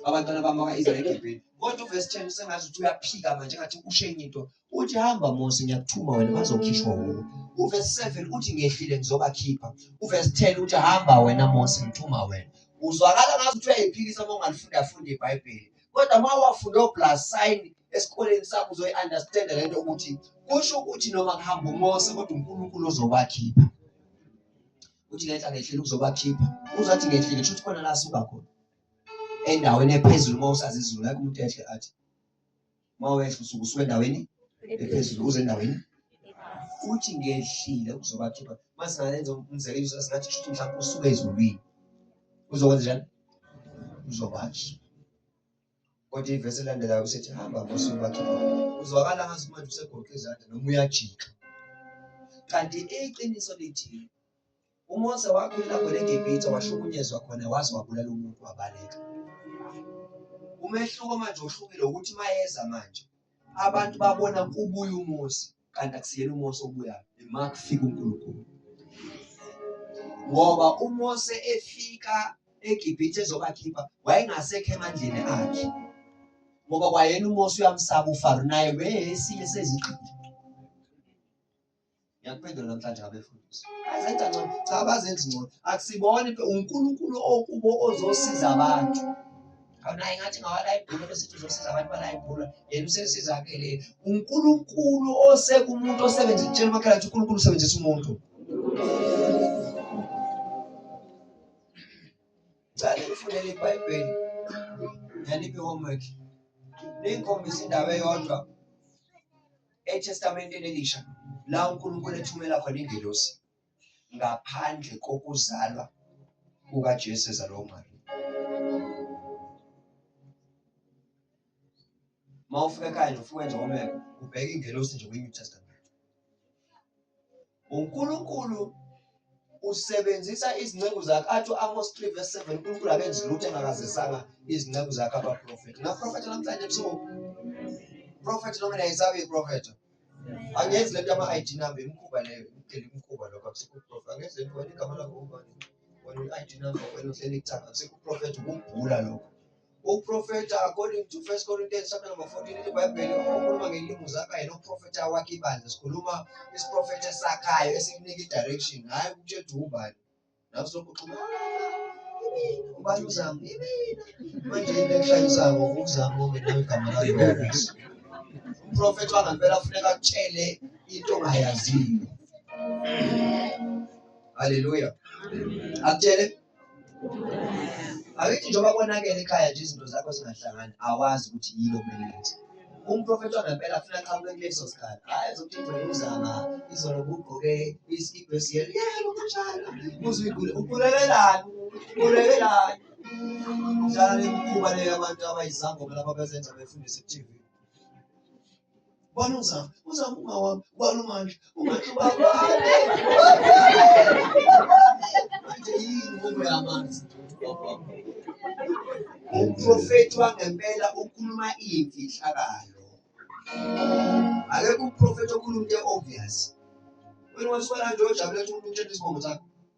abantwana bami baka-israyeli egibhini kodwa uvesi 10 usengazi ukuthi uyaphika manje ngathi ushe enye into uthi hamba mose ngiyakuthuma wena bazokhishwa wuwe uvesi 7 uthi ngehlile ngizobakhipha uvesi 10 uthi hamba wena mose ngithuma wena uzwakala ngazi ukuthi uyayiphikisa uma ungalifunda funda ibhayibheli kodwa uma wafunde oplus sign esikoleni sakho uzoyi-understanda le nto ukuthi kusho ukuthi noma kuhamba umose kodwa unkulunkulu ozobakhipha uthi ngenhla ngehlile ukuzobakhipha uzathi ngehlile kusho ukuthi khona la suka khona endaweni ephezulu uma usazi izulu ngeke umuntu ehle athi uma wehla usuke usuke endaweni ephezulu uze endaweni futhi ngehlile kuzobakhipha uma singayenza umzekelo singathi shuthi mhlawumbe usuke ezulwini uzokwenza njani uzobathi kodwa ivesi elandelayo usethi hamba ngosuku bakhipha uzwakala ngathi manje usegoqe izandla noma uyajika kanti iqiniso lithi UMose wakhwela khona eGibhithe wahlukunyezwa khona waze wabulala umuntu wabaleka. Umehluko manje ohlukile ukuthi mayeza manje abantu babona kubuya uMose kanti akusiyena uMose obuya uma kufika uNkulunkulu. Ngoba uMose efika eGibhithe ezobakhipha wayengasekho emandleni akhe. Ngoba kwayena uMose uyamsaba uFaro naye weyesinye seziqili. ngiyakuphendula namhlanje ngabefundisi azenza ngcono cha abazenzi ngcono akusibona unkulunkulu okubo ozosiza abantu awunaye ngathi ngawalayibhula besithi uzosiza abantu balayibhula yena usesiza-ke le unkulunkulu osekumuntu osebenza kutshela umakhala ukuthi unkulunkulu usebenzisa umuntu cale ngifundele ibhayibheli nganiphi homework ningikhombisa indawo eyodwa eTestamenteni Elisha la uNkulunkulu ethumela khona ingelosi ngaphandle kokuzalwa kukaJesu ezalwa uMariya. Uma ufika ekhaya nje ufike nje umeko ubheke ingelosi nje kwi-New Testament. uNkulunkulu usebenzisa izinceku zakhe athi u-amos 3 verse 7 unkulunkulu akenzi lutho engakazisanga izinceku zakhe abaprofethi ngaprofetha namhlanje ebusuku profethi noma nayisabe iprofetha angenzi le nto ama-id number imkhuba leyo imdela imkhuba lokho akusikho uprofethi angenzi le nto wena igama lakho ubani wena i-id number wena uhleli kuthanga akusikho uprofethi ukubhula lokho Uprofeta according to 1 Corinthians chapter number 14 in the Bible ukhuluma ngelimi zakhe yena uprofeta wakhe ibandla sikhuluma isiprofeta esakhayo esikunike direction hayi ukuthi ethi ubani nawe sokuxhuma ubani uzama imina manje into ekushayisako uzama ngoba nawe igama lakho uprofeta wangempela kufuneka akutshele into ongayaziyo haleluya akutshele Akithi njengoba konakele ekhaya nje izinto zakho zingahlangani awazi ukuthi yini okumele yenze. Umprofethi wangempela afuna aqhamuke kuleso sikhathi. Hayi ezokuthi igcwele uzama izolo ubugqoke isikibha esiyelo. Yebo kunjalo. Uzwe igule ukhulelelani? Ukhulelelani? Njalo imikhuba leyo abantu abayizangoma lapha bezenza befundisa ku-TV. Ubani uZama? UZama umawami. Ubani uMandla? UMandla ubabami. Manje yini inqubo yamanzi? Umprofethi wangempela ukhuluma imfihlakalo. Akekho umprofethi okhuluma into e-obvious. Wena wasifana nje ojabule ukuthi umuntu utshela isibongo sakho.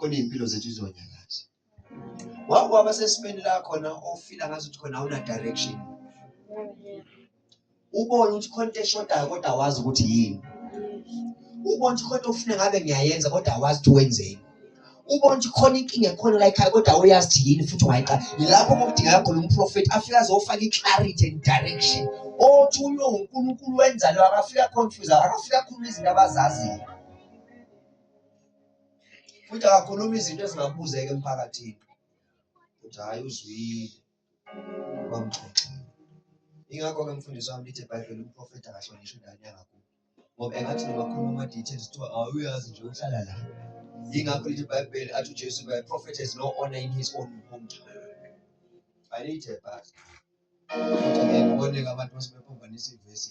khona iy'mpilo zethu izonyakaza wake waba sesimeni la khona ofila ngazi ukuthi khona awuna direction ubone ukuthi khona into eshodayo kodwa awazi ukuthi yini ubone ukuthi khona ofuna ngabe ngiyayenza kodwa awazi ukuthi wenzeni ubona ukuthi khona inkinga ekhona la ekhaya kodwa awuyazi ukuthi yini futhi ungayiqala yilapho kokudingeka khona umprofethi afike azofaka i-clarity and direction othi ulo unkulunkulu wenzalo akafika confuse akafika akhuluma izinto abazaziyo futhi akakhulumi izinto ezingabuzeka emphakathini ukuthi hhayi uzwile bamxoxile ingakho-ke mfundisi wami lithi ebhayibheli umprofethi akahlonishwa ingane yangakubo ngoba engathi nobakhuluma ama-details kuthiwa awuyazi nje uhlala la yingakho lithi ibhayibheli athi ujesu by prophet has no honor in his own hometown ayilithe bhasi kodwa ngeke uboneke abantu basebephambanisa ivesi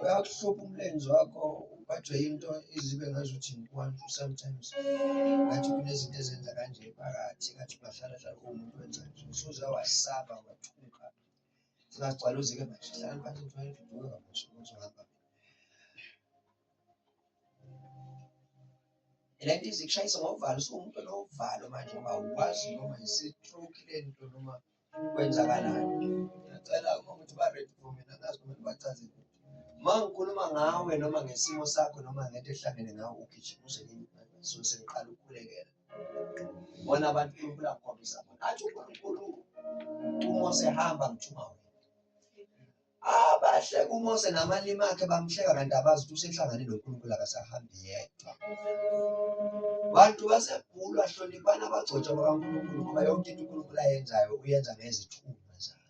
uyakuhlupha umlenze wakho ubajwe into izibe ngazuthi ngikwantu sometimes ngathi kunezinto ezenza kanje phakathi ngathi bahlala hlala umuntu wenza nje usuze wasaba wathuka singagcwala uzike manje hlala phansi ngifane ngiduke kamusho uzohamba le nto izikushayisa ngovalo usuwumuntu onovalo manje ngoba awukwazi noma yisitruki le nto noma kwenzakalani ngiyacela uma ukuthi ba-red for mina ngazi kumele bachaze uma ngikhuluma ngawe noma ngesimo sakho noma ngento ehlangene ngawe ugijima uze so sengiqala ukukhulekela bona abantu unkulunkulu akhombisa bona athi unkulunkulu uma usehamba ngithuma wena Abahleka uMose namalimi akhe bamhleka kanti abazi ukuthi usehlangane noNkulunkulu akasahambi yedwa. Bantu baseGulu ahloniphani abagcotshwa bakaNkulunkulu ngoba yonke into uNkulunkulu ayenzayo uyenza ngezithunywa zakhe.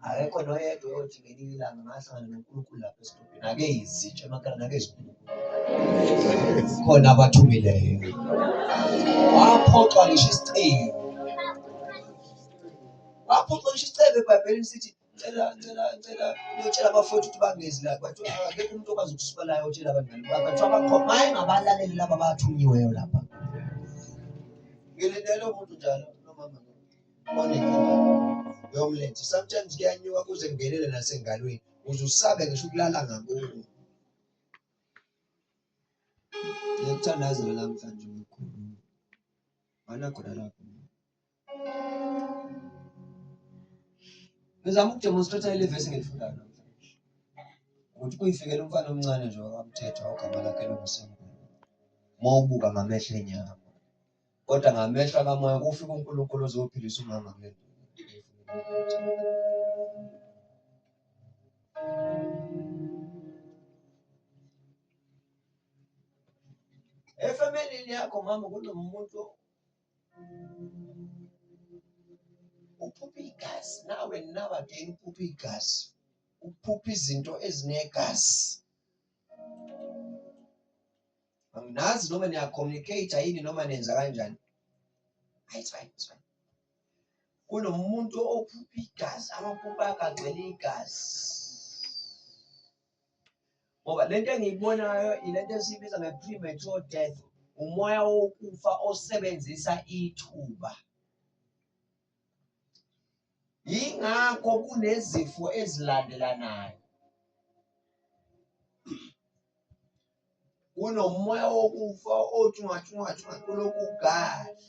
Akekho noyedwa oyothi ngelinye ilanga ngahlangana noNkulunkulu lapha esidobhini ake izitsha emakhaya nake izinkulunkulu khona abathumileyo waphoxwa ngisho isicingo waphoxa ngisho isicebe ebhayibhelini sithi cela cela cela uyotshela abafowethu ukuthi bangezi la kwathi akekho umuntu okwazi ukusuka la yotshela abangani bakhe kuthiwa bakhoma hayi ngabalaleli laba abathunyiweyo lapha ngilindele umuntu njalo nomama onenkinga yomlenze sometimes kuyanyuka kuze kungenele nasengalweni uze usabe ngisho ukulala ngakubo ngiyakuthandazela namhlanje mkhulu mana khona lapho Ngizama ukudemonstrate ile verse engilifundayo namhlanje. Ukuthi kuyifikela umfana omncane nje wakamthetha ogama lakhe longuSimbulu. Uma ubuka ngamehlo enyama. Kodwa ngamehlo akamoya kufika uNkulunkulu ozophilisa umama kule nto. Efamilini yakho mama kunomuntu uphupha igazi now and now again uphupha igazi uphupha izinto ezinegazi anginazi noma niyacommunicate yini noma nenza kanjani it's fine it's fine kunomuntu ophupha igazi amaphupha akagcwele igazi ngoba lento engiyibonayo ilento esiyibiza nge-premature death umoya wokufa osebenzisa ithuba yingakho kunezifo ezilandelanayo kunomoya wokufa othi ungathi ungathi ungathi uloku ugadla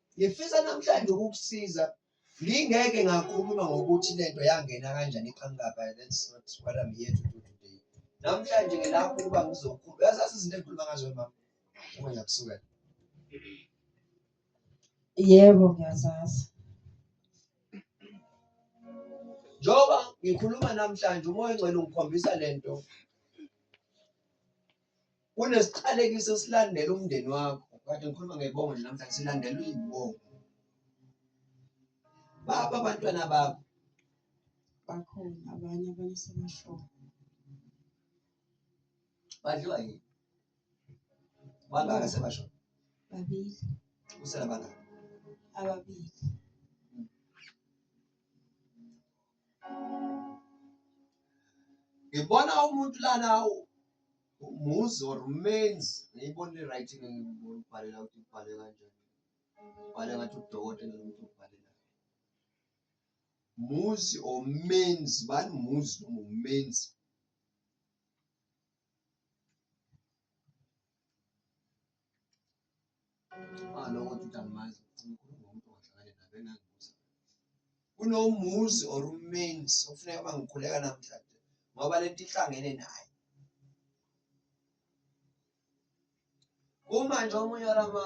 Ngifisa namhlanje ukukusiza. Ngingeke ngakhuluma ngokuthi lento yangena kanjani eqhankaba. That's not what I'm here to do today. Namhlanje ngilapho ukuba ngizokhuluma. Uyazazi izinto engikhuluma ngazo mama. Uma ngiyakusuka. Yebo ngiyazazi. Njoba ngikhuluma namhlanje umoya ongcwele ungikhombisa lento Kunesiqalekiso esilandela umndeni wakho. Kade ngikhuluma ngebongo nje namhlanje silandelwa izibongo. Baba abantwana bakho. Bakhona abanye abanye sebashona. Badliwa yini? Bangaka sebashona? Babili. Usela bangaka? Ababili. Ngibona umuntu lana Muzi or menzi ngiyibona i-right ngibhalela ukuthi ubhale kanjani ubhale ngathi udokotela lomuntu ubhalela muzi or menzi bani muzi noma umenzi kunomuzi or umenzi okufuneka bangikhuleka namhlanje ngoba lento ihlangene naye uma nje omunye walama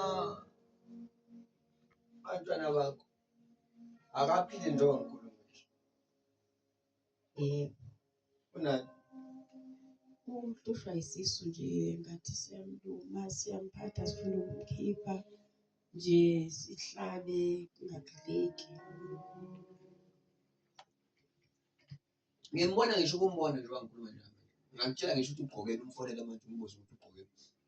bantwana bakho akaphile njengoba ngikhuluma Eh, Una uhlushwa isisu nje ngathi siyamluma siyamphatha sifuna ukumkhipha nje sihlabe kungagileki ngiyambona ngisho ukumbona nje wangikhuluma nje ngamtshela ngisho ukuthi ugqokele umfonela manje umbuzo ukuthi ugqokele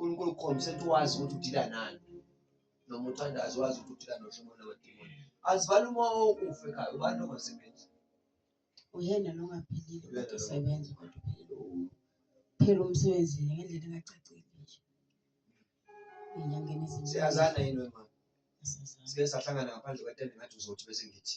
uNkulunkulu ukhombise ukuthi wazi ukuthi udila nani noma uthandazi wazi ukuthi udila nohlobo lwamadimoni azibali uma okufa ekhaya ubani longasebenzi uyena longaphilile kodwa usebenza kodwa phela umsebenzi ngendlela engacacile nje enyangeni ezinhle siyazana yini wema sike sahlangana ngaphandle kwetende ngathi uzothi bese ngithi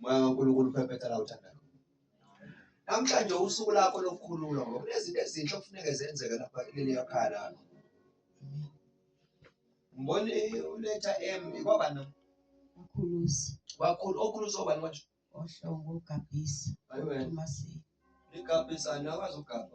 moya kaNkulunkulu uphephetha la uthanda namhlanje usuku lakho lokukhululwa ngoba kunezinto ezinhle okufuneke zenzeke lapha kuleli yakhaya lakho ngibona uletha m kwaba no ukhulusi wakhulu okhulusi obani manje ohlongo ugabhisa ayi wena umasile ligabhisa nakwazi ugabha